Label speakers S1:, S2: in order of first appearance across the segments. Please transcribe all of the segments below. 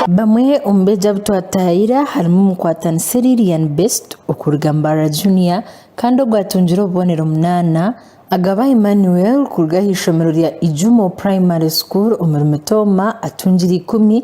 S1: Bamwe omu beegi abu twataayaire harimu omukwatanisa eri Lilian Best okuruga Mbarara Junior kandi ogu atungire obubonero munaana, Agaba Emmanuel kuruga aha ishomero rya Ijumo Primary School omu Limitooma atungire ikumi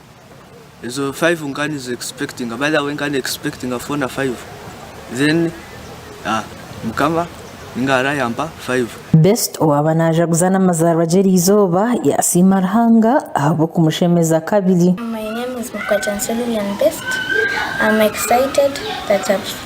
S2: Ezo five nka nizi expectinga by the way nka ni expectinga four na five then ah mukama ninga arayampa five. Best owaaba
S1: naajaguza n'amazaarwa gye eriizooba yaasiima Ruhanga ahabw'okumushemeza kabiri. My name is
S3: Mukwatyansya Lilian Best, I'm excited that I've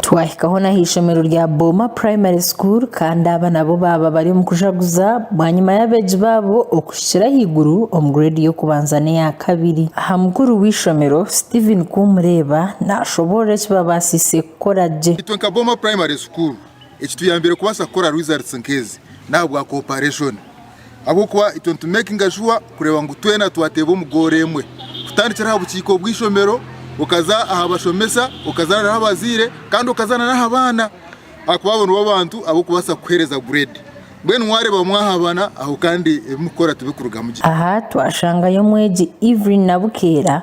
S3: Twahikaho n'aha ishomero
S1: rya Booma Primary School kandi aba nabo baaba bari omu kujaguza bwanyima y'abeegi baabo okuhikira ahaiguru omu grade y'okubanza n'eya kabiri. Aha mukuru w'eishomero, Steven Kumureeba naashoboorora eki baabaasiise kukora gye. Itwe nka Booma Primary
S4: School, ekituyambiire kubaasa kukora results nk'ezi n'ahabwa cooperation. Ahabw'okuba itwe nitumekinga shuwa kureeba ngu twena twateeba omu goolo emwe, kutandikira aha bukiiko bw'eishomero okaza aha bashomesa, okaza n'aha bazaire kandi okaza n'aha baana ahakuba abo nibo bantu ab'okubaasa kukuheereza gureedi. Mbwenu waareeba mwahabana aho kandi ebi mukukora tibikurugamu gye. Aha twashangayo
S1: omwegi Evelyn Nabukeera